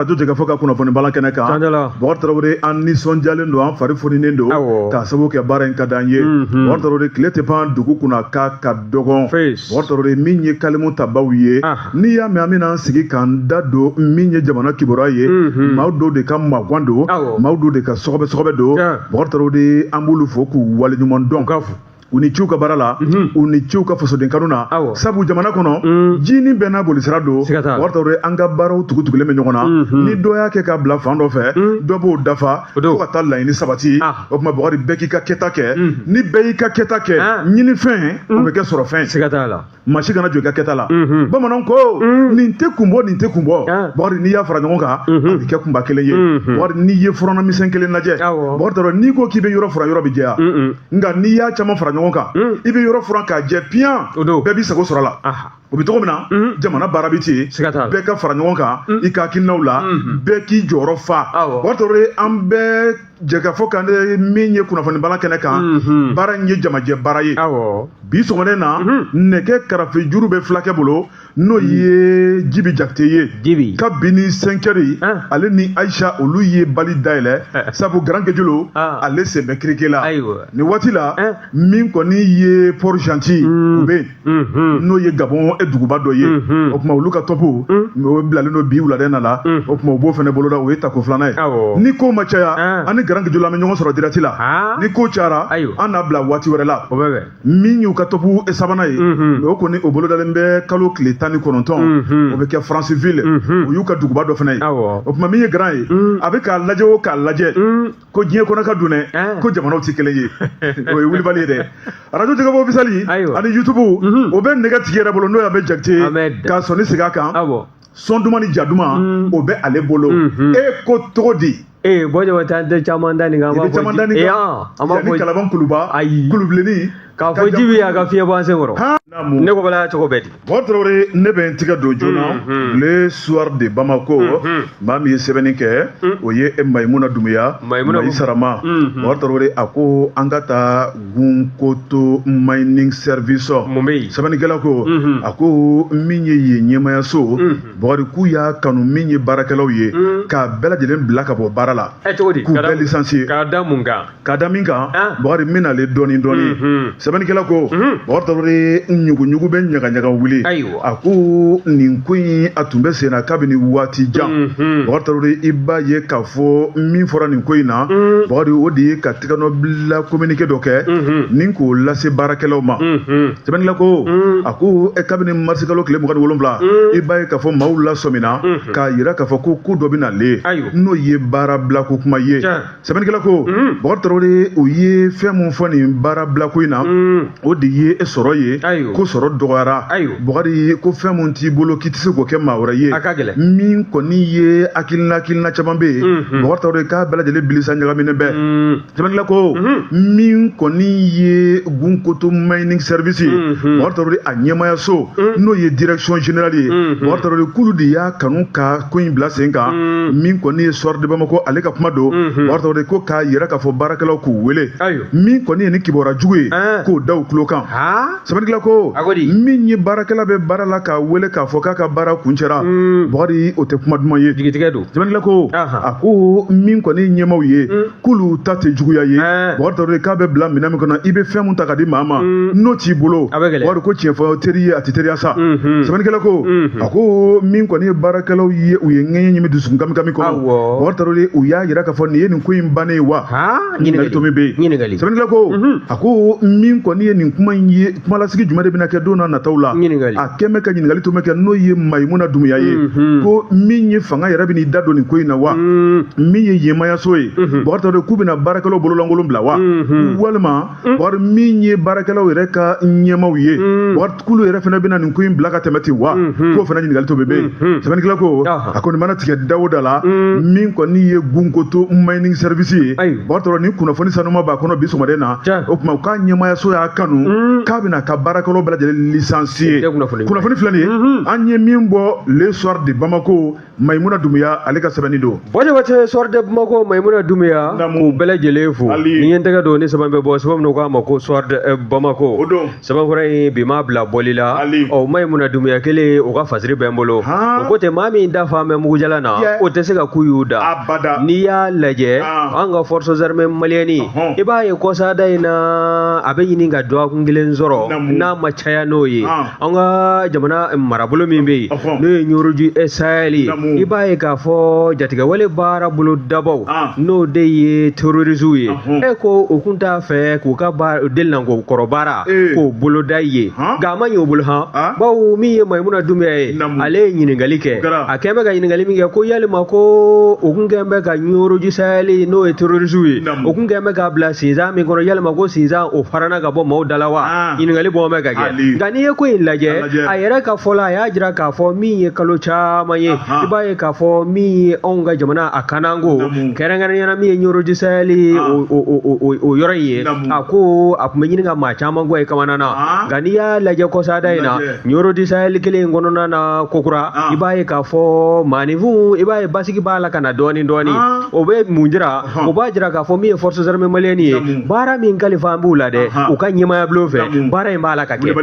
arajo jɛkafɔ ka kunnafoni bala kɛnɛ kan bɔgɔ tarawele an nisɔndiyalen don an fari foninen don k'a sabu kɛ baara in ka di an ye bɔgɔ tarawele tile tɛ pan dugu kunna k'a ka dɔgɔn bɔgɔ tarawele min ye kalimu tabaw ye n'i y'a mɛn an bɛna an sigi k'an da don min ye jamana kibaruya ye maaw dɔw de ka magan don maaw dɔw de ka sɔgɔbɛ sɔgɔbɛ don bɔgɔ tarawele an b'olu fo k'u waleɲuman dɔn ka fo u ni ce u ka baara la mhm. u ni ce u ka fasoden kanu na sabu jamana kɔnɔ mm. jinin bɛɛ n'a bolisira don bɔgɔ tarawele an ka baaraw tugutugulen bɛ ɲɔgɔn na mhm. ni dɔ y'a kɛ ka bila fan dɔ fɛ mm. dɔ b'o dafa fo ka taa laɲini sabati ah. o tuma bakari bɛɛ k'i ka kɛta kɛ mm. ni bɛɛ y'i ka kɛta kɛ ah. ɲinifɛn o bɛ kɛ sɔrɔfɛn maa si kana jɔn i ka kɛta la mhm. bamananw ko mhm. nin tɛ kun bɔ nin tɛ kun bɔ ah. bakari n'i y'a fara ɲɔgɔn kan mhm. a bɛ kɛ kunba kelen ye bakari n'i ye furannan misɛn kelen lajɛ bakari n'i ko k'i bɛ yɔrɔ furan yɔrɔ bɛ jɛya nka n'i y'a caman fara ɲɔgɔn kan i bɛ yɔrɔ furan k'a jɛ piyan bɛɛ b'i sago sɔrɔ a la o bɛ cogo min na jamana baara bɛ ten bɛɛ ka fara ɲɔgɔn kan i ka hakilinaw la bɛɛ k'i jɔyɔrɔ fa bakari tarawele an bɛ Jɛkafɔ kan min ye kunnafoni bala kɛnɛ kan baara in ye jamajɛ baara ye bi sɔgɔma nin na nɛgɛ karafe juru bɛ fulakɛ bolo n'o ye jibi jakite ye kabini cinq heures ale ni ayisa olu ye bali dayɛlɛ sabu garan kejolo ale sen bɛ kirike la ayiwa ni waati la min kɔni ye port-gentil u bɛ n'o ye gabon e duguba dɔ ye o tuma olu ka tɔpu o bilalen don bi wuladen na la o tuma u b'o fana boloda o ye tako filanan ye ni ko ma caya ani garan kejolo an bɛ ɲɔgɔn sɔrɔ direct la ni ko cayara an n'a bila waati wɛrɛ la min y'u ka tɔpu sabanan ye o kɔni o bolodalen bɛ kalo tile tan ni kɔnɔntɔn o bɛ kɛ franceville o y'u ka duguba dɔ fana ye o tuma min ye garan ye a bɛ k'a lajɛ o k'a lajɛ ko diɲɛ kɔnɔ ka dun dɛ ko jamanaw tɛ kelen ye o ye wulibali ye dɛ arajo jɛkafɔ officiel ani yutubu mhm. o bɛ nɛgɛ tigi yɛrɛ bolo n'o y'a bɛ jakite ka sɔn nin sigi a kan sɔn duman ni ja duman mm. o bɛ ale bolo mhm. e ko cogo di ee eh, bɔjɔ taa tɛ caman da nin kan an b'a fɔ caman da nin kan eh, ah, an b'a fɔ kalaban kuluba ayi kulubilenni k'a fɔ jibi ye a ka fiɲɛ bɔ an sen kɔrɔ ne ko bala cogo bɛ di bɔgɔ tarawele ne bɛ n tigɛ don joona le soir de bamako maa min ye sɛbɛnni kɛ o ye mayimuna dumuya mayi sarama bɔgɔ tarawele a ko an ka taa gunkoto mining service mun bɛ yen sɛbɛnnikɛla ko a ko min ye yen ɲɛmayaso bɔgɔri k'u y'a kanu min ye baarakɛlaw ye k'a bɛɛ lajɛlen bila ka bɔ baara la k'u bɛɛ licencier k'a da mun kan k'a da min kan ah. bakari n bɛ nale dɔɔni dɔɔni mhm. sɛbɛnnikɛla ko mhm. bakari tarawele ɲuguɲugu bɛ ɲagaɲaga wuli a ko nin ko in a tun bɛ sen na kabini waati jan mhm. bakari tarawele i b'a ye k'a fɔ min fɔra nin ko in na bakari o de ye ka tɛgɛnɔbila kominike dɔ kɛ ni k'o lase baarakɛlaw ma sɛbɛnnikɛla ko a ko kabini marisikalo tile mugan ni wolonwula i b'a ye k'a fɔ maaw lasɔmina k'a yira k'a fɔ ko ko dɔ bɛ nale n'o ye baara bilako kuma ye sɛbɛnnikɛla ko bɔkari tarawele o ye fɛn min fɔ nin baara bilako in na o de ye e sɔrɔ ye ko sɔrɔ dɔgɔyara bɔkari ko fɛn min t'i bolo k'i tɛ se k'o kɛ maa wɛrɛ ye min kɔni ye hakilina hakilina caman bɛ yen bɔkari tarawele k'a bɛɛ lajɛlen bilisa ɲagaminen bɛɛ sɛbɛnnikɛla ko min kɔni ye gunkoto mining service ye bɔkari tarawele a ɲɛmaayaso n'o ye direction générale ye bɔkari tarawele k'olu de y'a kanu ka ko in bila sen kan mm. min kɔni ye soir de bamako ale ka kuma don mm-hmm. bakari tarawele ko k'a yira k'a fɔ baarakɛlaw k'u wele min kɔni ye ni kibaru jugu ye eh. k'o da u tulo kan sɛbɛnnikɛla ko min ye baarakɛla bɛ baara la k'a wele k'a fɔ k'a ka baara kuncɛra mm. bakari o tɛ kuma duman ye sɛbɛnnikɛla ko a ko min kɔni ye ɲɛmaw ye mm. k'olu ta tɛ juguya ye bakari tarawele k'a bɛ bila minɛn min kɔnɔ i bɛ fɛn min ta ka di maa ma mm. n'o t'i bolo bakari ko tiɲɛ fɔ teri ye a tɛ teriya sa mm-hmm. sɛbɛnnikɛla ko mm-hmm. a ko min kɔni ye baarakɛlaw ye u ye ŋɛɲɛ ɲimi dusukun kami kami kɔnɔ bakari tarawele u y'a yira k'a fɔ nin ye nin ko in bannen ye wa ɲininkali tomi bɛ yen sɛbɛnnikɛla ko mm-hmm. a ko min kɔni ye nin kuma in ye kumalasigi jumɛn de bɛna kɛ don n'a nataw la a kɛ bɛ ka ɲininkali tomi kɛ n'o ye mayimuna dumuya ye ko min ye fanga yɛrɛ bɛna i da don nin ko in na wa mm. min ye ɲɛmaaya so ye bakari tarawele k'u bɛna baarakɛlaw bololankolon bila wa walima bakari min ye baarakɛlaw yɛrɛ ka ɲɛmaw ye bakari k'olu yɛrɛ fana bɛna nin ko in bila ka tɛmɛ ten wa k'o fana ɲininkali tomi bɛ yen sɛbɛnnikɛla ko a kɔni mana tigɛ da o da la min kɔni ye gunkoto mining service ye bakari tarawele ni kunnafoni sanuma b'a kɔnɔ bi sɔgɔmada na o tuma u ka ɲɛmaayaso y'a kanu k'a bɛna a ka baarakɛlaw bɛɛ lajɛlen licencier kunnafoni filɛ nin ye an ye min bɔ le soir de bamako maimuna dumuya ale ka sɛbɛnni don bɔde wace soir de bamako maimuna dumuya k'u bɛɛ lajɛlen fo ni ye n tɛgɛ don ni sɛbɛn bɛ bɔ sɛbɛn min k'a ma ko soir de eh, bamako sɛbɛn kura in bi ma bila bɔli la ɔ maimuna dumuya kelen o ka fasiri bɛ n bolo o ko tɛ maa min da falen bɛ mugujalan na o tɛ se ka ku y'u da n'i y'a lajɛ an ka forces armées maliennes i b'a ye kɔsada in na a bɛ ɲini ka dɔgɔkun kelen sɔrɔ n'a ma caya n'o ye an ka jamana marabolo min bɛ yen n'o ye ɲoroji sayɛli ye i b'a ye k'a fɔ jatigɛwale baara bolodabaaw ah. n'o de ye terorisiw ye e ko o kun t'a fɛ k'u ka delilanko kɔrɔ baara eh. k'o boloda ye nka a ma ɲɛ o bolo han ah. bawo min ye mayimuna dumbuya ye ale ye ɲininkali kɛ a kɛn bɛ ka ɲininkali min kɛ ko yalima ko o kun kɛn bɛ ka ɲoroji sayɛli n'o ye terorisiw ye o kun kɛn bɛ k'a bila sinsan min kɔnɔ yalima ko sinsan o farana ka bɔ maaw da la wa ah. ɲininkali bɔ bɛ ka kɛ nka n'i ye ko in lajɛ a yɛrɛ ka fɔ la a y'a jira k'a fɔ min ye kalo caman ye i b'a ye k'a fɔ min ye anw ka jamana a kanako kɛrɛnkɛrɛnyana min ye ɲorodi sayɛli ah. o yɔrɔ in ye a ko a kun bɛ ɲini ka maa caman kɔni kamanagan ah. nka n'i y'a lajɛ kɔsada in na ɲorodi sayɛli kelen in kɔnɔna na kokura i b'a ye k'a fɔ maaninfinw i b'a ye basigi b'a la ka na dɔɔnin dɔɔnin o bɛ mun jira o b'a jira k'a fɔ min ye forces armées maliennes ye baara min kalifan b'u la dɛ u ka ɲɛmaaya bulon fɛ baara in b'a la ka kɛ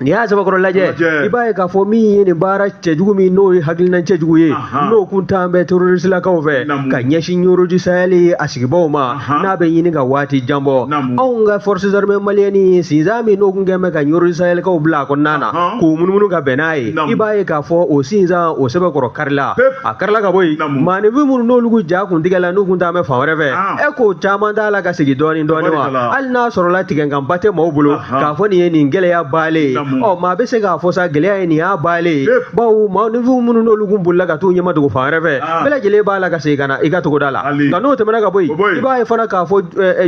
n'i y'a sɛbɛkɔrɔ lajɛ i b'a ye k'a fɔ min ye nin baara cɛjugu min n'o ye hakilina cɛjugu ye n'o kun tan bɛ terroristilakaw fɛ ka ɲɛsin ɲoroji sayɛli a sigibaaw ma n'a bɛ ɲini ka waati jan bɔ anw ka forces armées maliennes sinsan min n'o kun kɛn bɛ ka ɲoroji sayɛlikaw bila a kɔnɔna na k'u munumunu ka bɛn n'a ye i b'a ye k'a fɔ o sinsan o sɛbɛkɔrɔ karila a karila ka bɔ yen maanifin minnu n'olu kun ja kun tigɛla n'u kun taan bɛ fan wɛrɛ fɛ e k'o caman t'a la ka segin dɔɔnin dɔɔnin wa hali n'a sɔrɔla tigɛnkan ba tɛ maaw bolo k'a fɔ nin ye nin gɛlɛya bannen ye ɔ maa bɛ se k'a fɔ sa gɛlɛya ye nin y'a bannen ye bawo maanifinw minnu n'olu kun bolila ka t'u ɲɛmadogo fan wɛrɛ fɛ bɛɛ lajɛlen b'a la ka segin ka na i ka togoda la nka n'o tɛmɛna ka bɔ yen i b'a ye fana k'a fɔ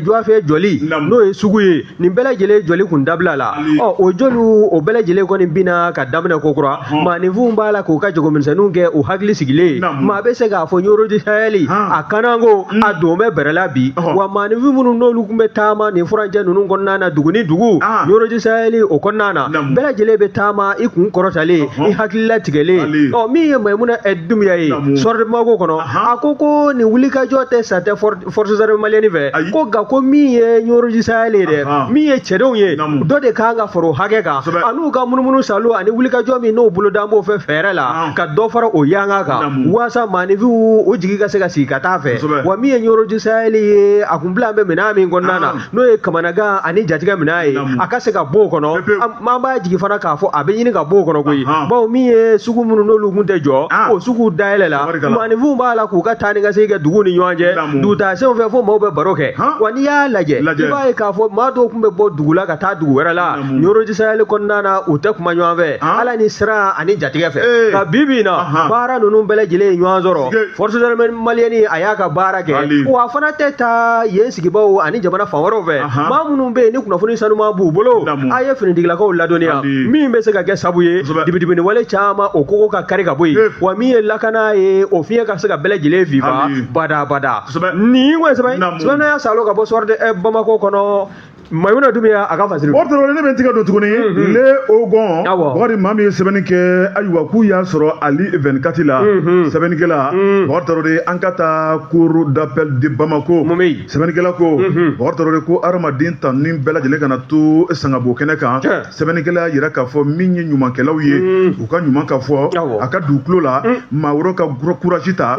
dɔgɔfiyɛ jɔli n'o ye sugu ye nin bɛɛ lajɛlen jɔli kun dabila la ɔ o jɔliw o bɛɛ lajɛlen kɔni binna ka daminɛ kokura maaninfinw b'a la k'u ka jagomisɛnninw kɛ u hakili sigilen maa bɛ se k'a fɔ ɲorodi sayɛli a kanako a don bɛ bɛrɛla bi wa maaninfin minnu n'olu kun bɛ taama nin furancɛ ninnu kɔnɔna na dugu ni dugu ɲorodi sayɛli o kɔnɔna na bɛɛ lajɛlen bɛ taama i kun kɔrɔtalen i hakili latigɛlen ɔ min ye mayimuna ɛ dumbuya ye soir de Bamako kɔnɔ a ko ko nin wulikajɔ tɛ sa tɛ fɔrɔdi forces armées maliennes fɛ Ayi. ko nka ko min ye ɲoroji sayɛli ye dɛ Ahan. min ye cɛdenw ye Naamu. dɔ de kan ka fara o hakɛ kan Kosɛbɛ. an'u ka munumunu saalo ani wulikajɔ min n'o bolodan b'o fɛ fɛɛrɛ la Ahan. ka dɔ fara o yanga kan Naamu. waasa maanifinw o jigi ka se ka sigi ka taa a fɛ Kosɛbɛ. wa min ye ɲoroji sayɛli ye a kun bilan bɛ minɛn min kɔnɔna na Ahan. n'o ye kamanagan ani jatigɛ minɛn ye a ka se ka bɔ o kɔnɔ an b'a jigi fana k'a fɔ a bɛ ɲini ka bɔ o kɔnɔ koyi bawo min ye sugu minnu n'olu kun tɛ jɔ ah. o sugu dayɛlɛla maanifinw b'a la k'u ka taa ni ka segin kɛ dugu ni ɲɔgɔn cɛ dugutaasenw fɛ fo maaw bɛ baro kɛ wa n'i y'a lajɛ i b'a ye k'a fɔ maa dɔw kun bɛ bɔ dugu la ka taa dugu wɛrɛ la ɲoroji sayɛli kɔnɔna na u tɛ kuma ɲɔgɔn fɛ ah. ala ni siran ani jatigɛ fɛ nka eh. bi bi in na baara ninnu bɛɛ lajɛlen ye ɲɔgɔn sɔrɔ forces armées maliennes a y'a ka baara kɛ wa a fana tɛ taa yen sigibaaw ani jamana fan wɛrɛw fɛ maa minnu bɛ yen ni kunnafoni sanuman b'u bolo a ye finitigilakaw ladɔnniya min bɛ se ka kɛ sabu ye dibidibini wale caman o kogo ka kari ka bɔ yen wa min ye lakana ye o fiɲɛ ka se ka bɛɛ lajɛlen fifa badabada nin kɔni sɛbɛn sɛbɛnna y'a salo ka bɔ soir de Bamako kɔnɔ Mayimuna Dumuya y'a a ka fasiri don, o tuma ne bɛ tigɛ don tuguni le Hogon, awɔ, Bɔkari maa min ye sɛbɛnni kɛ ayiwa k'u y'a sɔrɔ Mali 24 la sɛbɛnnikɛla Bɔkari Tarawele an ka taa cour d'appel de Bamako mun bɛ yen sɛbɛnnikɛla ko Bɔkari Tarawele ko hadamaden tanuni bɛɛ lajɛlen kana to sangabo kɛnɛ kan Tiɲɛ. sɛbɛnnikɛla y'a yira k'a fɔ min ye ɲumankɛlaw ye u ka ɲuman ka fɔ Awɔ. a ka don u tulo la maa wɛrɛw ka courage ta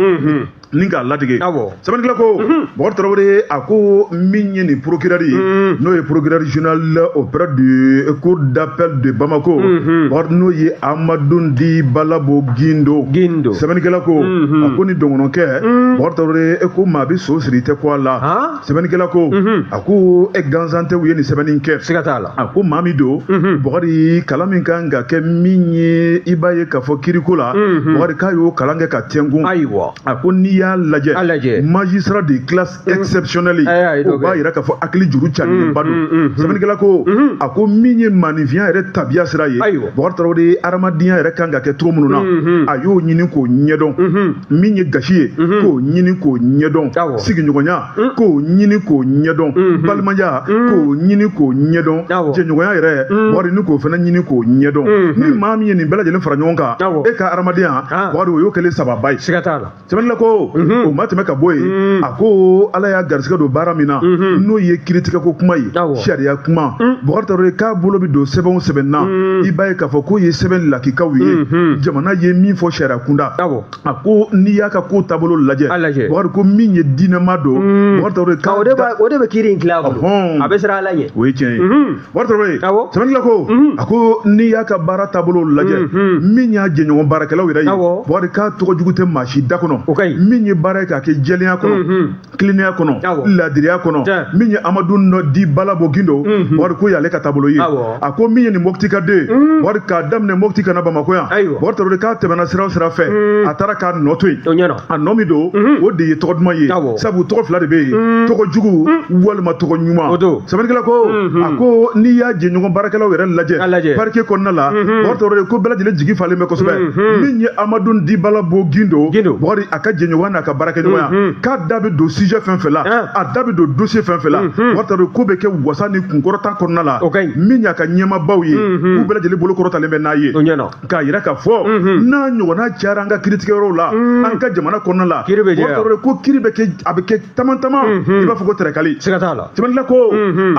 ni k'a latigɛ sɛbɛnnikɛla ko Bɔkari Tarawele a ko min ye nin procureur ye n'o ye procureur général auprès du cour d'appel de Bamako Bɔkari n'o ye Amadoun dit Balabo Guindo Guindo sɛbɛnnikɛla ko a ko nin dɔgɔnɔkɛ Bɔkari Tarawele ko maa bɛ so siri i tɛ kun a la. sɛbɛnnikɛla ko a ko e gansan tɛ u ye nin sɛbɛnni kɛ siga t'a la a ko maa min don Bɔkari kalan min kan ka kɛ min ye i b'a ye k'a fɔ kiriko la Bɔkari k'a y'o kalan kɛ ka tɛnkun ayiwa a ko n'i y'a lajɛ a lajɛ magistrat de classe exceptionnelle o b'a yira k'a fɔ hakili juru carinlenba don sɛbɛnnikɛla ko a ko min ye maaninfinya yɛrɛ tabiya sira ye Bɔkari Tarawele ye hadamadenya yɛrɛ kan ka kɛ cogo minnu na a y'o ɲini k'o ɲɛdɔn min ye gasi ye mhm. k'o ɲini k'o ɲɛdɔn sigiɲɔgɔnya mm. k'o ɲini k'o ɲɛdɔn mhm. balimaya mm. k'o ɲini k'o ɲɛdɔn jɛɲɔgɔnya yɛrɛ mm. Bɔkari ni k'o fana ɲini k'o ɲɛdɔn mhm. ni maa min ye nin bɛɛ lajɛlen fara ɲɔgɔn kan e ka hadamadenya ah. Bɔkari o y'o kɛlen sababa ye sɛbɛnnikɛla ko o ma tɛmɛ ka bɔ yen a ko ala y'a garisigɛ don baara min na n'o ye kiritigɛko kuma ye sariya kuma Bɔkari Tarawele k'a bolo bɛ don sɛbɛn o sɛbɛn na i b'a ye k'a fɔ k'o ye sɛbɛn lakikaw ye jamana ye min fɔ sariya kunda a ko n'i y'a ka ko taabolo lajɛ Bɔkari ko min ye diinɛma don mm. o de bɛ kiri in tila a bɛ siran ala ɲɛ o ye tiɲɛ ye mm-hmm. Bɔkari sɛbɛnnikɛla ko mm-hmm. a ko n'i y'a ka baara taabolo lajɛ mm-hmm. min y'a jɛɲɔgɔn baarakɛlaw yɛrɛ ye Bɔkari k'a tɔgɔ jugu tɛ maa si da kɔnɔ min ye baara ye k'a kɛ jɛlenya kɔnɔ tilennenya kɔnɔ laadiriya kɔnɔ min ye amadun di balabo gindo mhm. Bɔkari ko y'ale ka taabolo ye a ko min ye nin mɔti ka den mhm. Bɔkari k'a daminɛ mɔti ka na bamakɔ yan Bɔkari Tarawele k'a tɛmɛna sira o sira fɛ mhm. a taara k'a nɔ to yen a nɔ min don o de ye tɔgɔ duman ye sabu tɔgɔ fila de bɛ yen tɔgɔ jugu walima tɔgɔ ɲuman sɛbɛnnikɛla ko a ko n'i y'a jɛɲɔgɔn baarakɛlaw yɛrɛ lajɛ parquet kɔnɔna la Bɔkari Tarawele ko bɛɛ lajɛlen jigi falen bɛ kosɛbɛ min ye amadun di balabo gindo a ka jɛɲɔgɔn n'a ka baarakɛɲɔgɔnya mm-hmm. k'a da bɛ don sujet fɛn fɛn la ah. a da bɛ don dossier fɛn fɛn la mm-hmm. bubakari tarawele k'o bɛ kɛ wasa ni kunkɔrɔta kɔnɔna la min y'a ka ɲɛmabaw ye mm-hmm. k'u bɛɛ lajɛlen bolo kɔrɔtalen bɛ n'a ye k'a yira k'a fɔ n'a ɲɔgɔnna cayara an ka kiritigɛyɔrɔw la mm. an ka jamana kɔnɔna la bubakari tarawele ko kiri bɛ kɛ a bɛ kɛ taman taman i b'a fɔ ko tɛrɛkali sɛgɛt'a la tɛmɛnila ko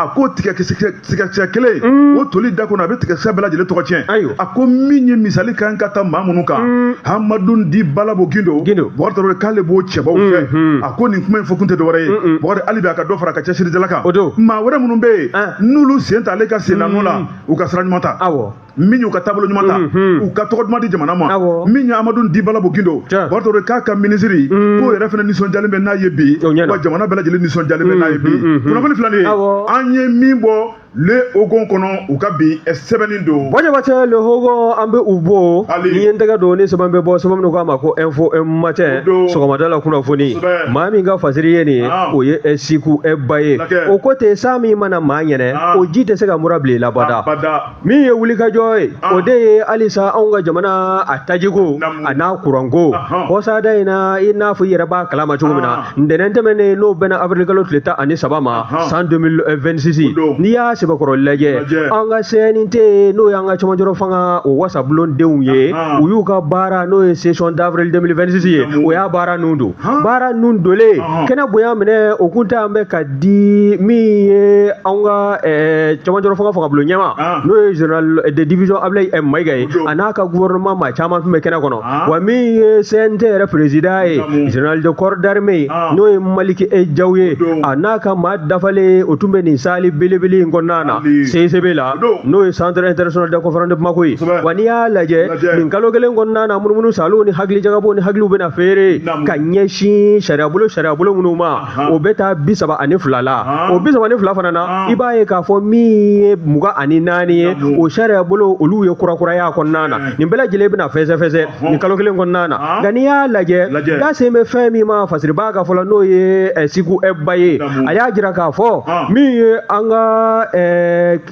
a ko tigakisɛ tigakisɛ kelen mm. o toli da kɔnɔ a bɛ tigakisɛ bɛɛ lajɛlen tɔgɔ tiɲɛ a ko min ye misali kan ka ta maa minnu kan mm. hamadun di balabo gindo bubakari tarawele k'ale b'o cɛbaw fɛ mm-hmm. a ko nin kuma in fɔ kun tɛ dɔwɛrɛ ye bubakari hali bi a ka dɔ fara a ka cɛsirijala kan maa wɛrɛ minnu bɛ yen ah. n'olu sen ta ale ka sennanɔ la mm. u ka sira ɲuman ta min y'u ka taabolo ɲuman ta mhm. u ka tɔgɔ duman di jamana ma min ye amadu di balabo gindo bubakari tarawele k'a ka minisiri mhm. k'o yɛrɛ fana nisɔndiyalen bɛ n'a ye bi wa jamana bɛɛ lajɛlen nisɔndiyalen bɛ n'a ye bi mhm, kunnafoni fila nin ye an ye min bɔ le hogon kɔnɔ u ka bi sɛbɛnni don bɔjɛbacɛ le hogon an bɛ u bo ni ye n tɛgɛ don ni sɛbɛn bɛ bɔ sɛbɛn minnu k'a ma ko info matin sɔgɔmada la kunnafoni maa min ka fasiri ye nin ye ah. o ye siku ba ye o ko ten san min mana maa ɲɛnɛ ah. o ji tɛ se ka mura bila i la abada min ye wulikajɔ ye ah. o de ye halisa anw ka jamana a tajiko a n'a kuranko kɔsada in na i n'a fɔ i yɛrɛ b'a kalama cogo min na ah. ntɛnɛn tɛmɛnen n'o bɛnna avril kalo tile tan ani saba ma san 2026 eh, n'i y'a sɛbɛkɔrɔ lajɛ an ka cnt n'o y'an ka cɛmancɛrɔ fanga o wasabulon denw ye u y'u ka baara n'o ye session d'avril 2026 ye o y'a baara ninnu don baara ninnu donlen kɛnɛ bonya minɛ o kun tɛ an bɛ ka di min ye an ka eh, cɛmancɛrɔ fanga fanga bulon ɲɛmaa ah. n'o ye général eh, de division ablaye eh, mayiga ye a n'a ka gouvernement maa caman tun bɛ kɛnɛ kɔnɔ ah. wa min ye cnt yɛrɛ président ye général de corps d'armée ye ah. n'o ye maliki eh jaw ye a n'a ka maa dafalen ye o tun bɛ nin salle belebele in kɔnɔna na cicb la n'o ye centre international de conférence de bamako ye wa n'i y'a lajɛ nin kalo kelen kɔnɔna na munumunu saalo ni hakili jagabɔ ni hakiliw bɛna feere ka ɲɛsin sariyabolo sariyabolo minnu ma o bɛ taa bi saba ani fila la o bi saba ni fila fana na i b'a ye k'a fɔ min ye mugan ani naani ye o sariya bolo olu ye kurakuraya kɔnɔna na nin bɛɛ lajɛlen bɛna fɛsɛfɛsɛ nin kalo kelen kɔnɔna na nka n'i y'a lajɛ da sen bɛ fɛn min ma fasiribaa ka fɔlɔ n'o ye siku ba ye a y'a jira k'a fɔ min ye an ka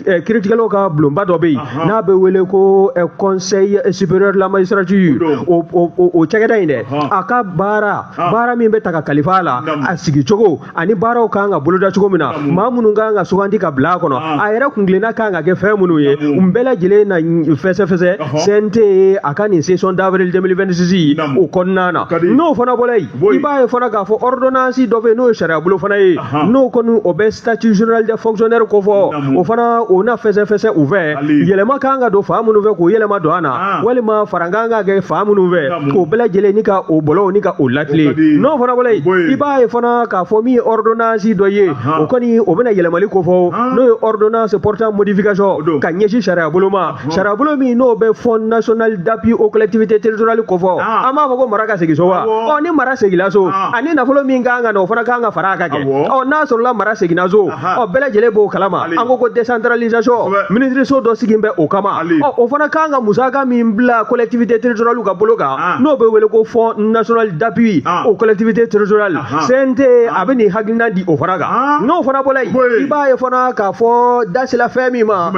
Eh, kiritigɛlaw ka bulonba dɔ bɛ yen n'a bɛ wele ko eh, conseil supérieur de la magistrature o o o cakɛda in dɛ a ka baara baara min bɛ ta ka kalifa a la a sigi cogo ani baaraw kan ka boloda cogo min na maa minnu kan ka sugandi ka bila a kɔnɔ a yɛrɛ kuntilenna kan ka kɛ fɛn minnu ye nin bɛɛ lajɛlen na fɛsɛfɛsɛ CNT a ka nin session d'avril 2026 o kɔnɔna na n'o fana bɔra yen i b'a ye fana k'a fɔ ordonnance dɔ bɛ yen n'o ye sariyabolo fana ye n'o kɔni o bɛ statut général des fonctionnaires kofɔ o fana o na fɛsɛfɛsɛ u fɛ yɛlɛma ka kan ka don fan minnu fɛ k'o yɛlɛma don a na ah. walima fara ka kan ka kɛ fan minnu fɛ k'o bɛɛ lajɛlen ni ka o bɔlɔw ni ka o latilen n'o fana bɔla yen i b'a ye fana k'a fɔ min ye ordonnance dɔ ye o kɔni o bɛna yɛlɛmali kofɔ ah. n'o ye ordonnance portant modification ka ɲɛsin sariyabolo ma sariyabolo min n'o bɛ fonds national d'appui aux collectivités territoriales kofɔ ah. an b'a fɔ ko mara ka segin so wa ɔ ni mara seginna so ah. ani nafolo min ka kan ka na o fana ka kan ka fara a ka kɛ ɔ n'a sɔrɔla mara seginna so ɔ bɛɛ lajɛlen b'o kalama an ko ko décentralisation minisiriso dɔ sigin bɛ o kama ɔ o fana ka kan ka musaka min bila collectivité territoriale ka bolo kan ah. n'o bɛ wele ko fonds national d'appui aux collectivités territoriales CNT a bɛ nin hakilina di o fana kan n'o fana bɔra yen i b'a ye fana k'a fɔ da sela fɛn min ma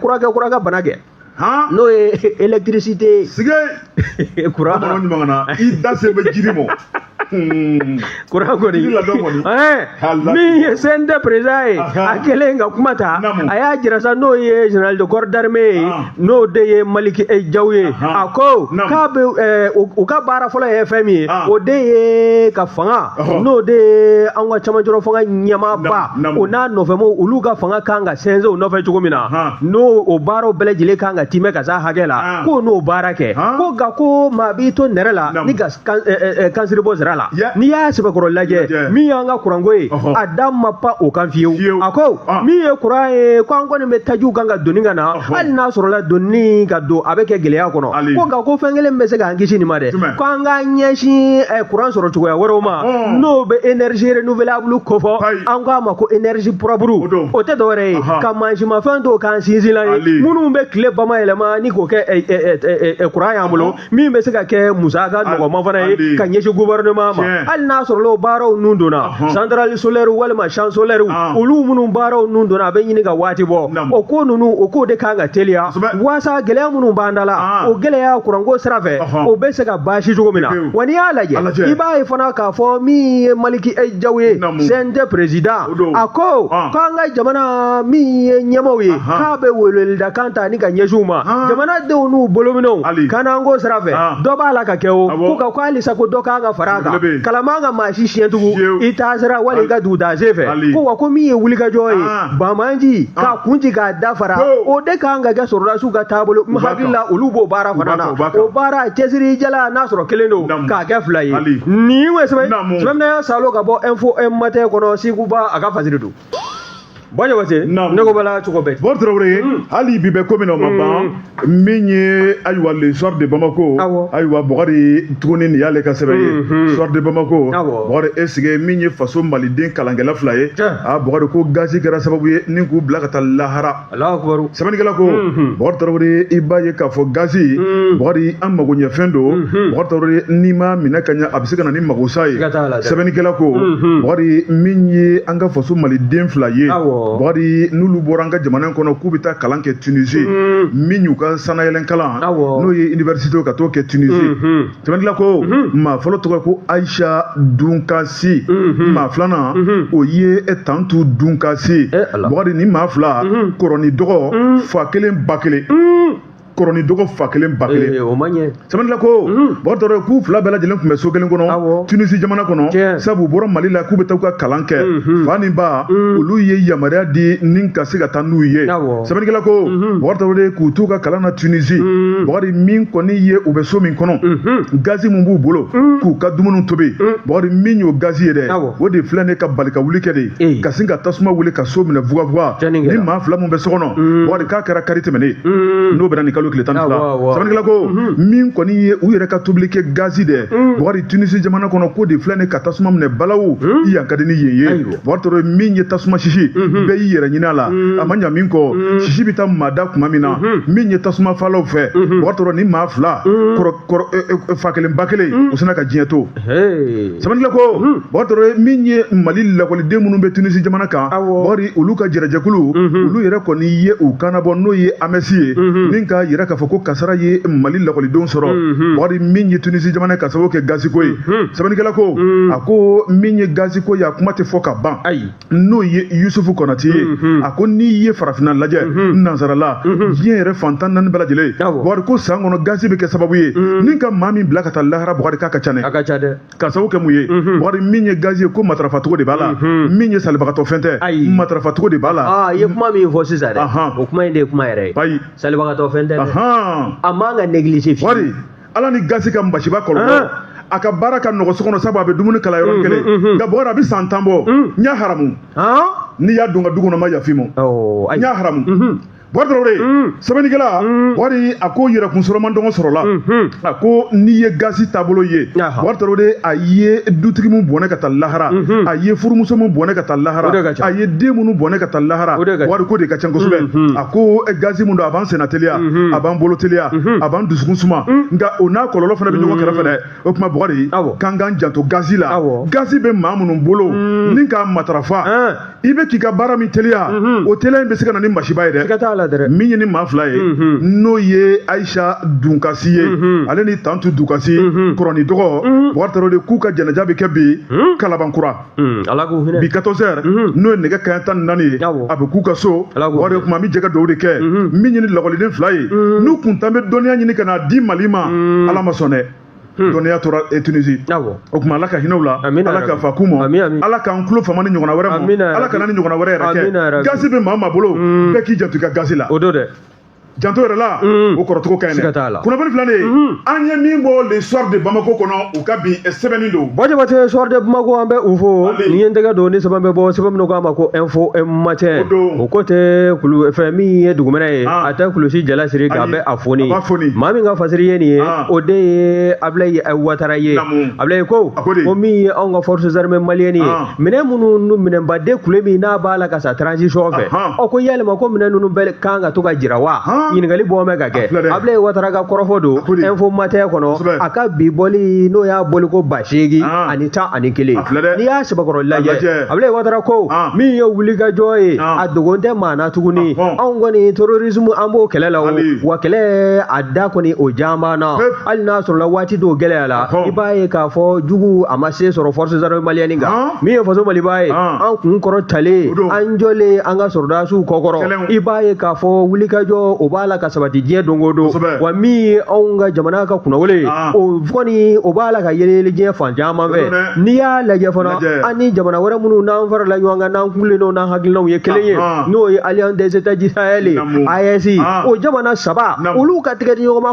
kuran kɛ kuran ka bana kɛ n'o ye électricité sige kura kɔnɔ ɲuman na i da se bɛ jiri mɔ kuran kɔni min ye CNT président ye a kɛlen ka kuma ta a y'a jira sa n'o ye général de corps d'armée ye n'o de ye Maliki Jaw ye a ko k'a bɛ u ka baara fɔlɔ ye fɛn min ye o de ye ka fanga n'o de ye an ka cɛmancɛrɔ fanga ɲɛmaaba o n'a nɔfɛmɔgɔw olu ka fanga kan ka sɛnsɛn o nɔfɛ cogo min na n'o o baaraw bɛɛ lajɛlen kan ka tiimɛ ka se hakɛ la ko n'o baara kɛ ko nka ko maa b'i to nɛrɛ la ni ka kansiri bɔ sira la n'i y'a sɛbɛkɔrɔ lajɛ min y'an ka kuranko ye a da ma pan o kan fiyewu a ko min ye kuran ye ko an kɔni bɛ tajiw kan k'a doni ka na hali n'a sɔrɔla donni k'a don a bɛ kɛ gɛlɛya kɔnɔ ko nka ko fɛn kelen bɛ se k'an kisi nin ma dɛ ko an ka ɲɛsin eh, kuran sɔrɔ cogoya wɛrɛw ma hmm. n'o bɛ énergie renouvelable kofɔ an k'a ma ko énergie propre o tɛ dɔwɛrɛ ye ka mansinmafɛn dɔw k'an sinsinlan ye minnu bɛ tile bamayɛlɛma ni k'o kɛ eh, eh, kuran y'an bolo min bɛ se ka kɛ musaka nɔgɔma fana ye ka ɲɛsin gouvernement ma hali n'a sɔrɔ o baaraw nun donna centrale solaire walima champ solaire olu minnu baaraw nun donna a bɛ ɲini ka waati bɔ o ko ninnu o ko de kan ka teliya waasa gɛlɛya minnu b'an da la o gɛlɛya kuranko sira fɛ o bɛ se ka baasi cogo min na wa n'i y'a lajɛ i b'a ye fana k'a fɔ min ye Maliki Jaw ye CNT président a ko ah. k'an ka jamana min ye ɲɛmaaw ye k'a bɛ weleweledakan ta ni ka ɲɛsin u ma ah. jamanadenw n'u bolominɛw kanako sira fɛ ah. dɔ b'a la ka kɛ o ko ka ko halisa ko dɔ kan ka fara a kan kalaman ka maa si siɲɛ tugu i taasira wali i ka dugutaa sen fɛ ko wa ko min ye wulikajɔ ye banbaanci k'a kun ci k'a da fara o de kan ka kɛ sɔrɔdasiw ka taabolo n hakili la olu b'o baara fana na o baara cɛsiri jala n'a sɔrɔ kelen don k'a kɛ fila ye nin ye sɛbɛn Sumamina Salo ka bɔ Info-Matin kɔnɔ Sekuba a ka fasiri don. Bukari Tarawele ne ko b'a la cogo bɛɛ. Bukari Tarawele hali bi bɛ ko min na o ma ban min ye ayiwa le soir de Bamako ayiwa Bukari tuguni nin y'ale ka sɛbɛn ye soir de Bamako Bukari est ce que min ye faso Maliden kalankɛla fila ye aa Bukari ko gazi kɛra sababu ye ni k'u bila ka taa lahara. sɛbɛnnikɛla ko bukari tarawele i b'a ye k'a fɔ gazi bukari an magoɲɛfɛn don bukari tarawele n'i ma minɛ ka ɲɛ a bɛ se ka na ni magosa ye sɛbɛnnikɛla ko bukari min ye an ka faso maliden fila ye bukari n'olu bɔra an ka jamana in kɔnɔ k'u bɛ taa kalan kɛ tunizi min y'u ka sanayɛlɛn kalan n'o ye université ka t'o kɛ tunizi sɛbɛnnikɛla ko maa fɔlɔ tɔgɔ ko ayisa dunkasi maa filanan o ye tantu dunkasi bukari nin maa fila kɔrɔ ni dɔgɔ fa kelen ba kelen kɔrɔ ni dɔgɔ fa kelen ba kelen sɛbɛnnikɛla ko bukari tarawele k'u fila bɛɛ lajɛlen tun bɛ so kelen kɔnɔ tunisi jamana kɔnɔ sabu u bɔra mali la k'u bɛ taa u ka kalan kɛ fa ni ba olu ye yamaruya di ni ka se ka taa n'u ye sɛbɛnnikɛla ko bukari tarawele k'u t'u ka kalan na tunisi bukari min kɔni ye u bɛ so min kɔnɔ gazi min b'u bolo k'u ka dumuni tobi bukari min y'o gazi ye dɛ o de filɛ ni ka balikawuli kɛ de ka sin ka tasuma wuli ka so minɛ fugafuga nin maa fila min bɛ so kɔnɔ bukari k'a kɛra kari tɛmɛnen n'o bɛnna nin kalo tile tan ni fila sɛbɛnnikɛla ko min kɔni ye u yɛrɛ ka tobili kɛ gazi dɛ bukari tunisi jamana kɔnɔ k'o de filɛ ni ka tasuma minɛ balawu i yan ka di ni yen ye bukari tarawele min ye tasuma sisi mhm. bɛɛ y'i yɛrɛ ɲini a la mhm. a ma ɲa min kɔ mhm. sisi bɛ taa mada tuma min na min ye tasumafagalaw fɛ bukari tarawele nin maa fila fa kelen ba kelen u sinna ka diɲɛ to sɛbɛnnikɛla ko bukari tarawele min ye mali lakɔliden minnu bɛ tunisi jamana kan bukari olu ka jɛrɛjɛkulu olu yɛrɛ kɔni ye u kan nabɔ n'o ye amɛsi ye ni k'a yira k'a fɔ ko kasara ye mali lakɔlidenw sɔrɔ bukari min ye tunisi jamana ka sababu kɛ gaziko ye sɛbɛnnikɛla ko a ko min ye gaziko ye a kuma tɛ fɔ ka ban n'o ye yusufu kɔnatɛ ye a ko n'i ye farafinna lajɛ nansarala diɲɛ yɛrɛ fan tan ni naani bɛɛ lajɛlen bukari ko san kɔnɔ gazi bɛ kɛ sababu ye ni ka maa min bila ka taa lahara bukari k'a ka ca dɛ ka sababu kɛ mun ye bukari min ye gazi ye k'o matarafacogo de b'a la min ye salibagatɔ fɛn tɛ matarafacogo de b'a la i ye kuma min fɔ sisan dɛ o kuma in de ye kuma yɛrɛ ye salibagatɔ fɛn tɛ a man ka négliger bukari ala ni gazi ka masiba kɔlɔlɔ a ka baara ka nɔgɔ so kɔnɔ sabu a bɛ dumuni kala yɔrɔ kelen nka bukari a bɛ san tan bɔ n y'a haramu n'i y'a don n ka du kɔnɔ n ma yafa i ma n y'a haramu bukari tarawele sɛbɛnnikɛla bukari a ko yɛrɛkun sɔrɔman dɔgɔ sɔrɔla a ko n'i ye gazi taabolo ye bukari tarawele a ye dutigi min bɔnɛ ka taa lahara a ye furumuso min bɔnɛ ka taa lahara a ye den minnu bɔnɛ ka taa lahara bukari k'o de ka ca kosɛbɛ ko eh, gazi min don a b'an senna teliya mhm. a b'an bolo teliya mhm. a b'an dusukun suma mhm. nka o n'a kɔlɔlɔ fana bɛ ɲɔgɔn kɛrɛfɛ dɛ o tuma bɔgɔri k'an k'an janto gazi la gazi bɛ maa minnu bolo mm. ni k'a matarafa i bɛ k'i ka baara min teliya o teliya in bɛ se ka na ni masiba ye dɛ min ye ni maa fila ye n'o ye ayisa dunkasi ye ale ni tantu dunkasi kɔrɔni dɔgɔ bɔgɔri tarawele de k'u ka janaja bɛ kɛ bi kalabankura Hmm, ala k'u hinɛ bi 14 heures mhm. n'o ye nɛgɛ kanɲɛ tan ni naani ye a bɛ k'u ka so bɔgɔri o tuma an bɛ jɛ ka dugawu de kɛ mhm. min ye ni lakɔliden fila ye mhm. n'u kun tan bɛ dɔnniya ɲini ka n'a di mali ma ala ma sɔn dɛ Hmm. dɔnniya tora eh, tunisi o tuma ala ka hinɛ u la ala ka yafa k'u ma ala k'an tulo fama ni ɲɔgɔnna wɛrɛ ma ala kana ni ɲɔgɔnna wɛrɛ yɛrɛ kɛ gazi bɛ maa maa bolo hmm. bɛɛ k'i janto i ka gazi la o don dɛ janto yɛrɛ la mm. o kɔrɔcogo ka ɲi dɛ kunnafoni filanan mm-hmm. an ye min bɔ le soir de bamako kɔnɔ u ka bi eh, sɛbɛnni don ba jabate soir de bamako an bɛ u fo ni ye n tɛgɛ don ni sɛbɛn bɛ bɔ sɛbɛn min k'a ma ko info matin o ko tɛ kulu fɛn min ye dugumɛnɛ ye ah. a tɛ kulusi jala siri k'a bɛ a foni maa min ka fasiri ye nin ye ah. o de ye abilayi watara ye abilayi ko ko min ye anw ka forces armées maliennes ye ah. minɛn minnu minɛnbaden kule min n'a b'a la ka san transition fɛ ɔ ko yalima ko minɛn ninnu bɛɛ kan ka to ka jira wa ɲininkali bɔ bɛ ka kɛ Abulayi Watara ka kɔrɔfɔ don info matin kɔnɔ a ka bi bɔli n'o y'a bɔli ko ba seegin ani tan ani kelen n'i y'a sɛbɛkɔrɔ lajɛ Abulayi Watara ko min ye wulikajɔ ye a dogon tɛ maa na tuguni anw kɔni terrorisme an b'o kɛlɛ la o wa kɛlɛ a da kɔni o jaan b'an na. hali n'a sɔrɔla waati dɔw gɛlɛya la i b'a ye k'a fɔ jugu a ma se sɔrɔ force armée malienne kan min ye faso maliba ye an kun kɔrɔtalen an jɔlen an ka sɔrɔdasiw kɔkɔrɔ i b'a ye k'a fɔ wulikajɔ o b'a la ka sabati diɲɛ don o don wa min ye anw ka jamana ka kunnawolo ye o kɔni o b'a la ka yeleyele diɲɛ fan caman fɛ n'i y'a lajɛ fana an ni jamana wɛrɛ minnu n'an farala ɲɔgɔn kan n'an kulen don n'an hakilinaw ye kelen ye n'o ye alliance des états du sahel ye AES o jamana saba olu ka tɛgɛ di ɲɔgɔn ma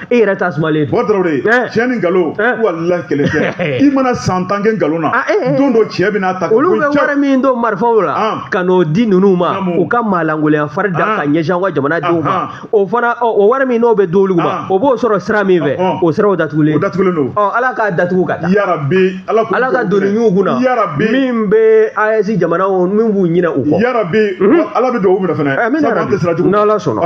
e yɛrɛ ta sumalen don. Bɔgɔri tiɲɛ ni nkalon walahi kelen tɛ i mana san tan kɛ nkalon na don dɔ tiɲɛ bɛna ta. olu bɛ wari min don marifaw la ka n'o di ninnu ma u ka maalankolonya fari da ka ɲɛsin an ka jamanadenw ma o fana o wari min n'o bɛ di olu ma o b'o sɔrɔ sira min fɛ o siraw datugulen. o datugulen don. ɔ ala k'a datugu ka taa. yarabi ala k'u ala ka doni ɲun u kunna. yarabi min bɛ AES jamanaw min b'u ɲinɛ u kɔ. yarabi ala bɛ dugawu minɛ fana. sabu an tɛ siran jugu ɲɛ. n'ala sɔnna.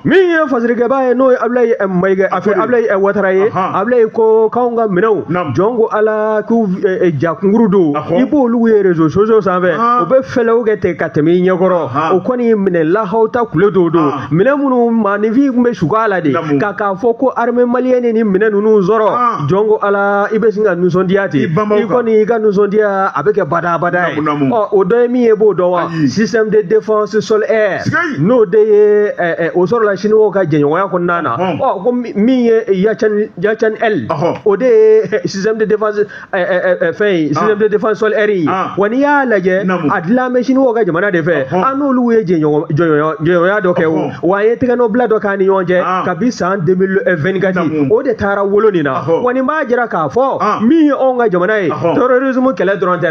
min ye fasirikɛba ye n'o ye abulayi eh, mayiga a fɛ abulayi eh, watara ye abulayi ko k'anw ka minɛnw jɔn ko ala k'u eh, ja kunkurun don i b'olu ye réseaux sociaux sanfɛ u bɛ fɛlɛw kɛ ten ka tɛmɛ i ɲɛkɔrɔ o kɔni minɛn lahawuta kule dɔw don minɛn minnu maaninfin tun bɛ siga a la de ka k'a fɔ ko armée malienne ni minɛn ninnu sɔrɔ jɔn ko ala i bɛ sin ka nisɔndiya ten i kɔni i ka nisɔndiya a bɛ kɛ badabada ye ɔ o dɔ ye min ye b'o dɔn wa système de défense sol air n'o de ye o sɔrɔla siniwaw ka jɛɲɔgɔnya kɔnɔna na ko min ye yachan L o de ye système de défense système de défense sol air ye wa n'i y'a lajɛ a dilan bɛ siniwaw ka jamana de fɛ an n'olu ye jɛɲɔgɔnya dɔ kɛ o wa an ye tɛgɛnɔbila dɔ k'an ni ɲɔgɔn cɛ kabi san 2024 o de taara wolo nin na wa nin b'a jira k'a fɔ min ye anw ka jamana ye terrorisme kɛlɛ dɔrɔn tɛ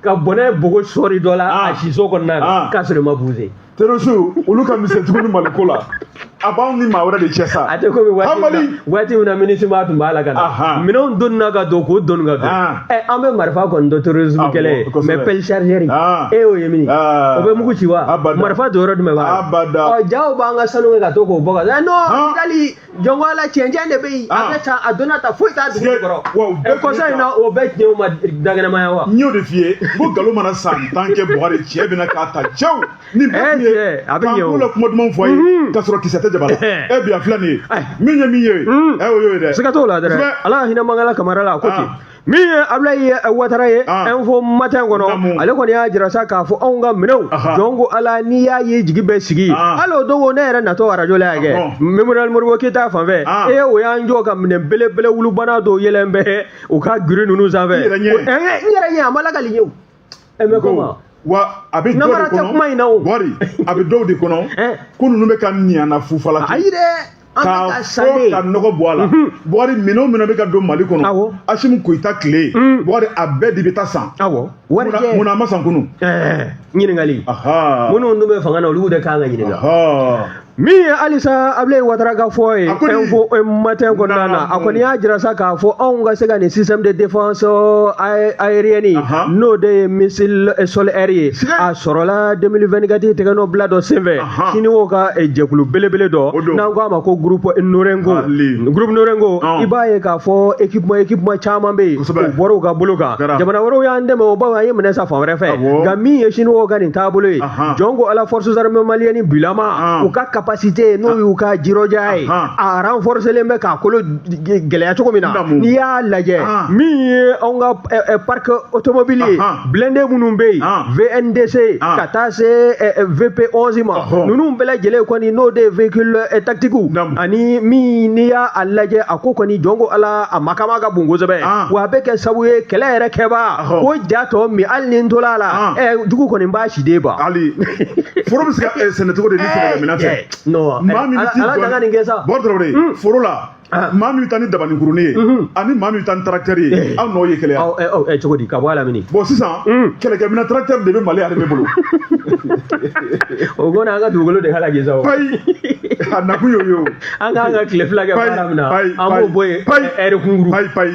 ka bɔnɛ bogo sɔri dɔ la ah. a siso kɔnɔna na ah. k'a sɔrɔ i ma buze terroristew olu ka misɛn tuguni maliko la a b'anw ni maa wɛrɛ de cɛ sa a tɛ komi waati min na MINUSMA tun b'a la ka na minɛnw donna ka don k'o donni ka don ah. ɛ eh, an bɛ marifa kɔni dɔn terrorisme kɛlɛ ye mais pelle chargeur e y'o ye min o bɛ mugu ci wa marifa don yɔrɔ jumɛn b'a la jaa u b'an ka sanu kɛ ka to k'o bɔ ka taa eh, non kidali jɔn ko ala cɛncɛn de bɛ yen a bɛ taa a donna ta foyi t'a dugu kɔrɔ ɛ kɔsa in na o bɛɛ tiɲɛ o ma dakɛnɛmaya wa. n y'o de f'i ye n ko nkalon mana san tan kɛ bɔgɔri cɛ bɛna k'a ta cɛw ni bɛɛ tun ye k'an k'u la kuma dumanw fɔ a ye k'a sɔrɔ kisɛ tɛ jaba la ɛ bi a filɛ nin ye min ye min ye ɛ o y'o ye dɛ siga t'o la dɛ ala ka hinɛ mangala kamara la a ko ten. min ye abulayi eh, watara ye ah. info matin kɔnɔ ale kɔni y'a jira sa k'a fɔ anw ka minɛnw jɔn ko ala n'i y'a ye jigi bɛ sigi ah. hali o don ko ne yɛrɛ natɔ arajo la yan kɛ ah, memorial modibo keyita fanfɛ e eh, o y'an jɔ ka minɛn belebele wulubana dɔw yɛlɛlen bɛ u ka giri ninnu sanfɛ n yɛrɛ ɲɛ a ma lakali ye o e mais comment wa a bɛ dɔw de kɔnɔ bɔgɔri a bɛ dɔw de kɔnɔ ko ninnu bɛ ka ɲana fufala kɛ ayi dɛ k'a fɔ ka nɔgɔ bɔ a la bɔgɔri minɛnw minnu bɛ ka don mali kɔnɔ asimi goyita tile bɔgɔri a bɛɛ de bɛ taa san munna a ma san kunu ɲininkali minnu dun bɛ fanga na olu de kan ka ɲininka min ye halisa abulayi watara ka fɔ ye info matin kɔnɔna na a kɔni y'a jira sa k'a fɔ anw ka se ka nin système de défense aérienne n'o de ye missile sol air ye a sɔrɔla 2024 tɛgɛnɔbila dɔ senfɛ siniwaw ka jɛkulu belebele dɔ n'an ko a ma ko groupe norinco groupe norinco i b'a ye k'a fɔ équipement équipement caman bɛ yen u bɔra u ka bolo kan jamana wɛrɛw y'an dɛmɛ o bawo an ye minɛn san fan wɛrɛ fɛ nka min ye siniwaw ka nin taabolo ye jɔn ko ala forces armées maliennes bilama u ka capacité n'o y'u ka jirɔja ye a renforcelen bɛ k'a kolo gɛlɛya cogo min na n'i y'a lajɛ min ye anw ka eh, eh, parc automobile ye blindé minnu bɛ yen VN2C ka taa se eh, VP 11 ma ninnu bɛɛ lajɛlen kɔni n'o de ye véhicule tactique ani min n'i y'a lajɛ a ko kɔni jɔn ko ala a makama ka bon kosɛbɛ wa a bɛ kɛ sababu ye kɛlɛ yɛrɛ kɛbaa ko ja tɔ min hali ni n tola a la Ɔn. ɛ jugu kɔni b'a si den ban hali foro bɛ se ka eh, sɛnɛ cogo di ni sɛnɛ minɛn tɛ Ɛɛ, non, maa min ala- bɛ t'i ala jɔ- danga nin kɛ sa. bolo dɔrɔn de Mm. foro la Ah. maa min bɛ taa ni dabani kurunin ye Mhm. ani maa min bɛ taa ni tarakitɛri ye Eh. aw n'o ye kɛlɛ aw ɛ aw ɛ cogo di ka bɔ a la mini bon sisan Mm. kɛlɛkɛminɛn tarakitɛri de bɛ mali armée bolo o kɔni an ka dugukolo de halaki sa o payi a nakun y'o ye o an k'an ka tile fila kɛ Payi, baara min na payi, an b'o payi, bɔ yen payi. ɛri kunkuru payi payi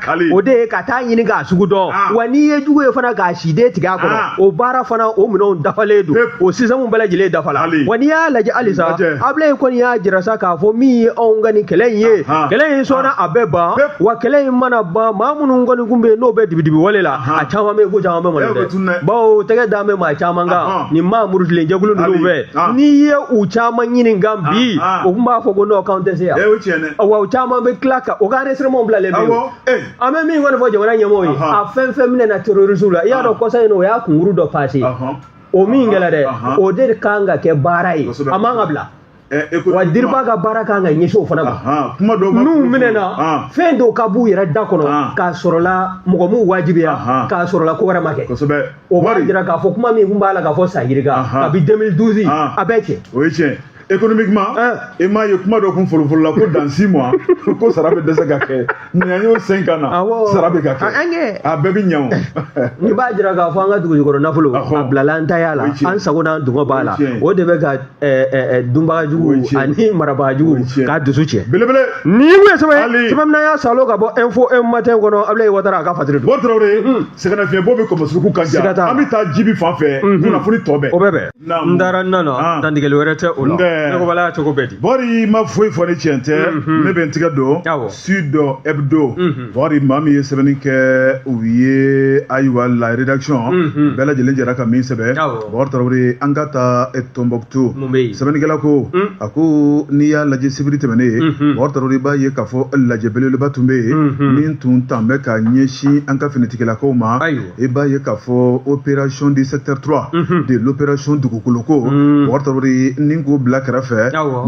o de ye ka taa ɲini k'a sugu dɔn ah. wa n'i ye jugu ye fana k'a si den tigɛ a kɔnɔ ah. o baara fana o minɛnw dafalen don o système bɛɛ lajɛlen dafala wa n'i y'a lajɛ halisa abulayi kɔni y'a jira sa k'a fɔ min ye anw ka nin kɛlɛ in ye ah, kɛlɛ in sɔnna a bɛ ban wa kɛlɛ in mana ban maa minnu kɔni kun bɛ yen n'o bɛ dibidibi wale la a caman bɛ ko caman bɛ mali dɛ bawo tɛgɛ dan bɛ maa caman kan nin maa murutilen jɛkulu ninnu fɛ n'i ye u caman ɲini kan bi o tun b'a fɔ ko n'o k'an tɛ se yan Wa caman bɛ tila ka o ka enregistrement bilalen bɛ yen, an bɛ min kɔni fɔ jamana ɲɛmɔgɔw ye, a fɛn fɛn minɛna terroristes la, i y'a dɔn kɔsa in na o y'a kunkuru dɔ passer o min kɛra dɛ, o de kan ka kɛ baara ye, a man ka bila. wa dirpa ka baara kan ka ɲɛsin o fana ma n'u minɛna fɛn dɔw ka b'u yɛrɛ da kɔnɔ k'a sɔrɔla mɔgɔ m'u wajibiya k'a sɔrɔla ko wɛrɛ ma kɛ o b'a jira k'a fɔ kuma min kun b'a la k'a fɔ san yirika kabi 2012 a bɛɛ cɛ o ye tiɲɛ économiquement i m'a ye kuma dɔ kun fɔlɔfɔlɔ la ko dans six mois ko sara bɛ dɛsɛ ka kɛ nin an y'o cinq ans na sara bɛ ka kɛ a bɛɛ bɛ ɲan o nin b'a jira k'a fɔ an ka dugujukɔrɔ nafolo a bilala an taya la an sago n'an dungɔ b'a la o de bɛ ka dunbaga jugu ani marabaga jugu k'a dusu tiɲɛ belebele nin ye mun ye sɛbɛn sɛbɛn min y'a salo ka bɔ info matin kɔnɔ Abulayi Watara a ka fatiri don sɛgɛnnafiɲɛbɔ bɛ kɔmɔsuruku kan ja an bɛ taa jibi fan fɛ mhm. kunnafoni tɔ bɛɛ o bɛ bɛn n taara n nana ah. dantigɛli wɛrɛ tɛ o la nɔgɔbala y'a cogo bɛ di bori ma foyi fɔ ni tiɲɛ tɛ mhm. ne bɛ n tigɛ don sud hebdo mhm. bori maa min ye sɛbɛnni kɛ u ye ayiwa la rédaction bɛɛ lajɛlen jɛra ka min sɛbɛn bori tarawele an ka taa tombouctou sɛbɛnnikɛla ko a ko n'i y'a lajɛ sibiri tɛmɛnen ye bori tarawele i b'a ye k'a fɔ lajɛ belebeleba tun bɛ yen min tun tan bɛ ka ɲɛsin an ka finitigilakaw ma i b'a ye k'a fɔ opération du secteur trois de l'opération dugukoloko bori tarawele ni k'o bila kɛrɛfɛ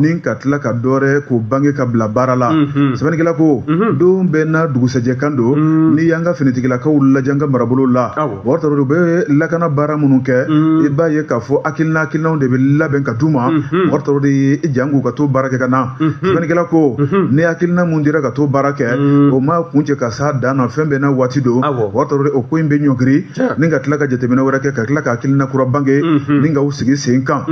ni ka tila ka dɔ wɛrɛ k'o bange ka bila baara la sɛbɛnnikɛla ko don bɛɛ n'a dugusɛjɛ kan don n'i y'an ka finitigilakaw lajɛ an ka marabolo la Bori tarawele u bɛ lakana baara minnu kɛ i b'a ye k'a fɔ hakilina hakilinaw de bɛ labɛn ka di u ma bori tarawele jank'u ka to baara kɛ ka na sɛbɛnnikɛla ko ni hakilina minnu dira ka to baara kɛ o ma kuncɛ ka s'a dan na fɛn bɛɛ n'a waati don bori tarawele o ko in bɛ ɲɔngiri ni ka tila ka jateminɛ wɛrɛ kɛ ka tila ka hakilina kura bange ni ka sigi sen kan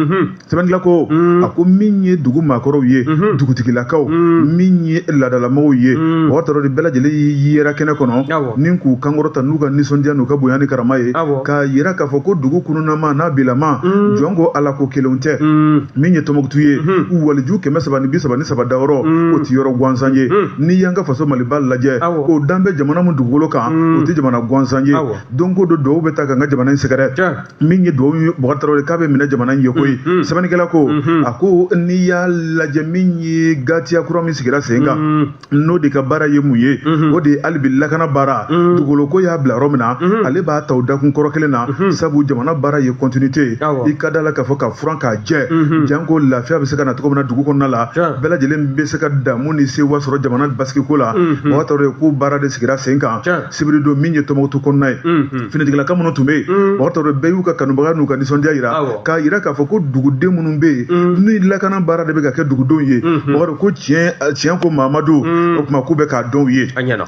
sɛbɛnnikɛla ko a ko min ye dugu maakɔrɔw ye dugutigilakaw min ye laadalamɔgɔw ye bubakari tarawele bɛɛ lajɛlen y'i yira kɛnɛ kɔnɔ ni k'u kan kɔrɔta n'u ka nisɔndiya n'u ka bonya ni karama ye k'a yira k'a fɔ ko dugu kununama n'a bilama jɔn ko ala ko kelenw tɛ min ye tɔnbukutu ye u waliju kɛmɛ saba ni bi saba ni saba dayɔrɔ o tɛ yɔrɔ gansan ye n'i y'an ka faso maliba lajɛ o danbe jamana min dugukolo kan o tɛ jamana gansan ye don ko don dugawu bɛ taa ka n ka jamana in sɛgɛrɛ min ye dugawu ye bubakari tarawele k'a bɛ minɛ jamana in ye koyi sɛbɛnnikɛla ko a ko n'i y'a lajɛ min ye gatiya kura min sigira sen kan n'o de ka baara ye mun ye o de ye hali bi lakana baara dugukolo ko y'a bila yɔrɔ min na ale b'a ta o dakun kɔrɔ kelen na sabu jamana baara ye continuité ye i ka da la k'a fɔ ka furan k'a jɛ janko lafiya bɛ se ka na cogo min na dugu kɔnɔna la bɛɛ lajɛlen bɛ se ka damu ni sewa sɔrɔ jamana basigi ko la bubakari tarawele k'o baara de sigira sen kan sibiri don min ye tɔnbukutu kɔnɔna ye finitigilaka minnu tun bɛ yen bubakari tarawele bɛɛ y'u ka kanubaga n'u ka nisɔndiya yira k'a yira k'a fɔ ko duguden minnu bɛ yen ni lakana baara de bɛ ka kɛ dugudenw ye mɔgɔ ko tiɲɛ ko mamadu o tuma k'u bɛ k'a dɔn u ye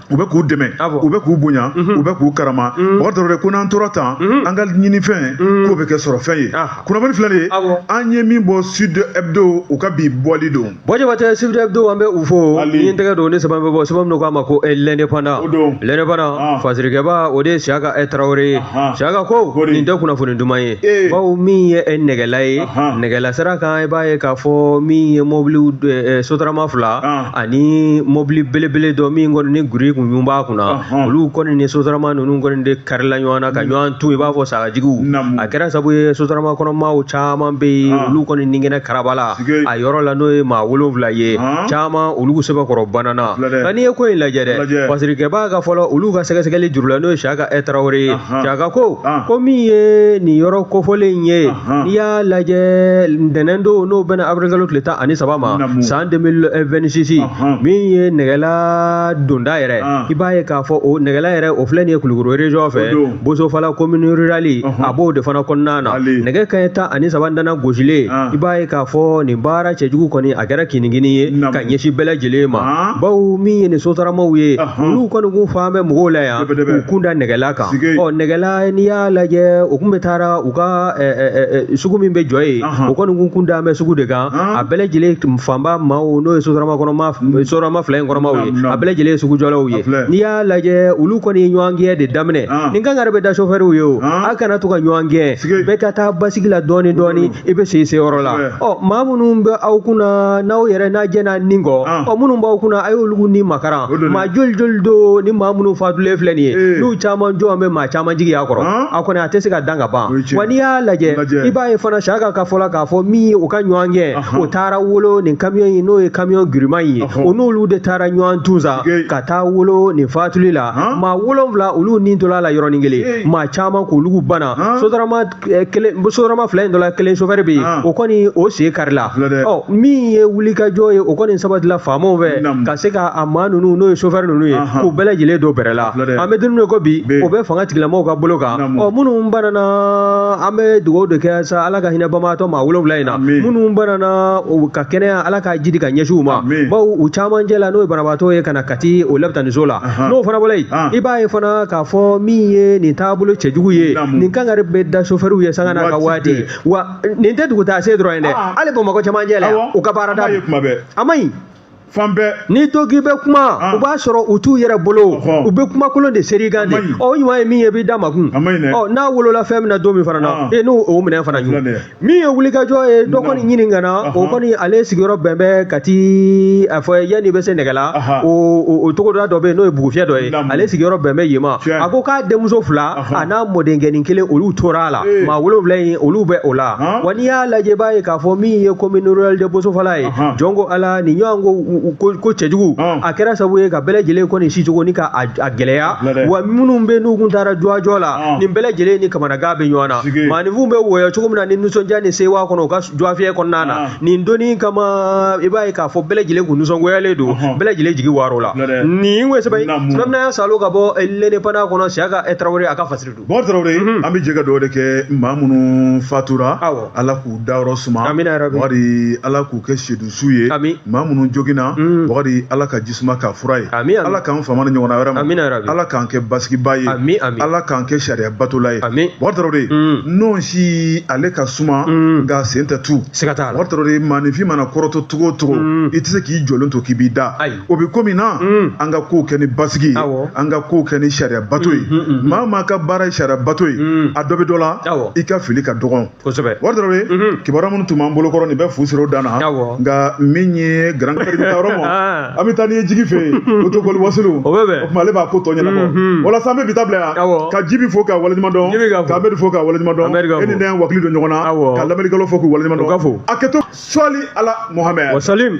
u bɛ k'u dɛmɛ u bɛ k'u bonya u bɛ k'u karama bubakari tarawele ko n'an tora tan an ka ɲinifɛn k'o bɛ kɛ sɔrɔ fɛn ye kunnafoni filɛ nin ye an ye min bɔ sud hebdo u ka bi bɔli don Bon jabatɛ sud hebdo an bɛ u fo ni tɛgɛ don ni sɛbɛn bɔ sɛbɛn min k'a ma ko l'indépendant l'indépendant fasirikɛbaa o de ye siyaka tarawele ye siyaka ko nin tɛ kunnafoni dumanman ye bawo min ye nɛgɛla ye nɛgɛla sira kan i b'a ye k'a fɔ min ye mɔbili sotarama fila ani mɔbili belebele dɔ min kɔni ni grin kun b'a kunna olu kɔni ni sotarama ninnu kɔni de karila ɲɔgɔn na ka ɲɔgɔn tu i b'a fɔ sagajigiw a kɛra sabu ye sotarama kɔnɔmaa caman bɛ yen olu kɔni ni kɛnɛ karabala a yɔrɔ la n'o ye maa wolonfila ye caman olu sɛbɛkɔrɔ banana nka n'i ye ko in lajɛ dɛ fasirikɛbaa ka fɔ la olu ka sɛgɛsɛgɛli juru la n'o ye siyaka tarawele ye siyaka ko ko min ye nin yɔrɔ kofɔlen ye n'i y'a lajɛ ntɛnɛn don n'o bɛnna awirilikalo tile tan ani saba ma san 2026 min ye nɛgɛla donda yɛrɛ i b'a ye k'a fɔ o nɛgɛla yɛrɛ o filɛ nin ye kulukoro région fɛ bosofala commune rurale a b'o de fana kɔnɔna na nɛgɛ kanɲɛ tan ani saba dana gosilen ah. i b'a ye k'a fɔ nin baara cɛjugu kɔni a kɛra kinigini ye ka ɲɛsin bɛɛ lajɛlen ma ah. bawo min ye nin sotaramaw ye olu kɔni kun fan bɛ mɔgɔw la yan u kun da nɛgɛla kan ɔ nɛgɛla n'i y'a lajɛ u kun bɛ taara u ka sugu min bɛ jɔ ye o kɔni kun kun da bɛ sugu de kan ah. a bɛɛ lajɛlen fanba maaw n'o ye sotarama kɔnɔmaa sotarama fila in kɔnɔmaaw ye a bɛɛ lajɛlen ye sugujɔlaw ye n'i y'a lajɛ olu kɔni ɲɔgɔn gɛn de daminɛ ah. ni kankari bɛ da sofɛriw ye o ah. a kana to ka ɲɔgɔn gɛn bɛɛ ka taa basigi la dɔɔni dɔɔni mm. i bɛ se se yɔrɔ la ɔ maa minnu bɛ aw kunna n'aw yɛrɛ n'a jɛna ni kɔ ah. ɔ minnu b'aw kunna a y'olu ni makaran maa joli joli don ni maa minnu fatulen filɛ nin ye eh. n'u caman jɔn bɛ maa caman jigiya kɔrɔ a kɔni a tɛ se ka dan ka ban wa n'i y'a lajɛ i b'a ye fana siyaka ka fɔ la k'a fɔ min ye u ka ɲɔgɔn gɛn o taara wolo nin kamiyɔn in n'o ye kamiyɔn giriman ye o n'olu de taara ɲɔgɔn tu sa ka taa wolo nin fatuli la maa wolonwula olu ni tola la yɔrɔnin kelen maa caman k'olu bana sotarama eh, kelen sotarama fila in dɔ la kelen sofɛri bɛ yen o kɔni o sen karila ɔ min ye wulikajɔ ye o kɔni sabatila faamaw fɛ ka se ka a maa ninnu n'o ye sofɛri ninnu ye k'u bɛɛ lajɛlen don bɛrɛ la an bɛ don min i ko bi o bɛ fanga tigilamɔgɔw ka bolo kan ɔ minnu banana an bɛ dugawu de kɛ sa ala ka hinɛ banbaatɔ maa wolonwula in na minnu banana ka kɛnɛya ala ka jidi ka ɲɛsin u ma baw u caman cɛla n'o ye banabaatɔ ye ka na ti o labitaniso la n'o fana bɔra yen i b'a ye fana k'a fɔ min ye nin taabolo cɛjugu ye nin kangari bɛ da sofɛriw ye sanga n'a ka waati wa nin tɛ dugutaa se dɔrɔn ye dɛ hali bamakɔ cɛmancɛ la u ka baarada a ma ɲi fan bɛɛ n'i to k'i bɛ kuma u b'a sɔrɔ u t'u yɛrɛ bolo u bɛ kumakolon de seri i kan dɛ ɔ o ɲuman ye min ye i b'i da makun n'a wolola fɛn min na don min fana na e n'o o minɛ fana ɲuman min ye wulikajɔ ye dɔ kɔni ɲininkana o kɔni ale sigiyɔrɔ bɛn bɛ kati a fɔ yann'i bɛ se nɛgɛla o togoda dɔ bɛ yen n'o ye bugufiyɛ dɔ ye ale sigiyɔrɔ bɛn bɛ yen ma a ko k'a denmuso fila a n'a mɔdenkɛnin kelen olu tora a la maa wolonwula in olu bɛ o la wa n'i y'a lajɛ b'a ye k'a fɔ min ye commune rurale de bosofala ye jɔn ko ala nin ɲɔgɔn ko ko cɛjugu a kɛra sabu ye ka bɛɛ lajɛlen kɔni sicogo ni ka a gɛlɛya wa minnu bɛ n'u kun taara dɔgɔjɔ la nin bɛɛ lajɛlen ni kamanagan bɛ ɲɔgɔn na maanifinw bɛ wɔyɔ cogo min na ni nisɔndiya ni sewa kɔnɔ u ka dɔgɔfiyɛ kɔnɔna na ah. nin don in kama i b'a ye k'a fɔ bɛɛ lajɛlen kun nisɔngoyalen don bɛɛ lajɛlen jigi warola nin ye sɛbɛn sɛbɛnnaya salo ka bɔ eh, l'indépendant kɔnɔ siyaka eh, tarawele a ka fasiri don bon tarawele mhm. an bɛ jɛ ka dugawu de kɛ maa minnu fatura ala k'u dayɔrɔ suma wari ala k'u kɛ sedu su ye maa minnu joginna mm. bakari ala ka ji suma k'a fura ye ala k'an fama nin ɲɔgɔnna wɛrɛ ma ala k'an kɛ basigiba ye ala k'an kɛ sariya batola ye bakari tarawele de mm. nɔnsi ale ka suma mm. nk'a sen tɛ tu bakari tarawele de maaninfin mana kɔrɔtɔ cogo o cogo i tɛ se k'i jɔlen to k'i b'i da o bɛ ko min na an ka kow kɛ ni basigi ye an ka kow kɛ ni sariya bato ye maa maa ka baara ye sariya bato ye a dɔ bɛ dɔ la i ka fili ka dɔgɔn kosɛbɛ wari dɔrɔn ye kibaruya minnu tun b'an bolo kɔrɔ nin bɛ fu siri o dan na nka min ye garan kari taa yɔrɔ ma an bɛ taa n'i ye jigi fɛ yen o to boli wasiriw o bɛ bɛn o tuma ale b'a ko tɔ ɲɛnabɔ walasa an bɛ bi ta bila yan ka jibi fo k'a waleɲuman dɔn k'amɛdi fo k'a waleɲuman dɔn e ni ne ye wakili don ɲɔgɔn na ka lamɛnnikɛlaw fo k'u waleɲuman dɔn fo a kɛtɔ sɔli ala mohamɛd wa salim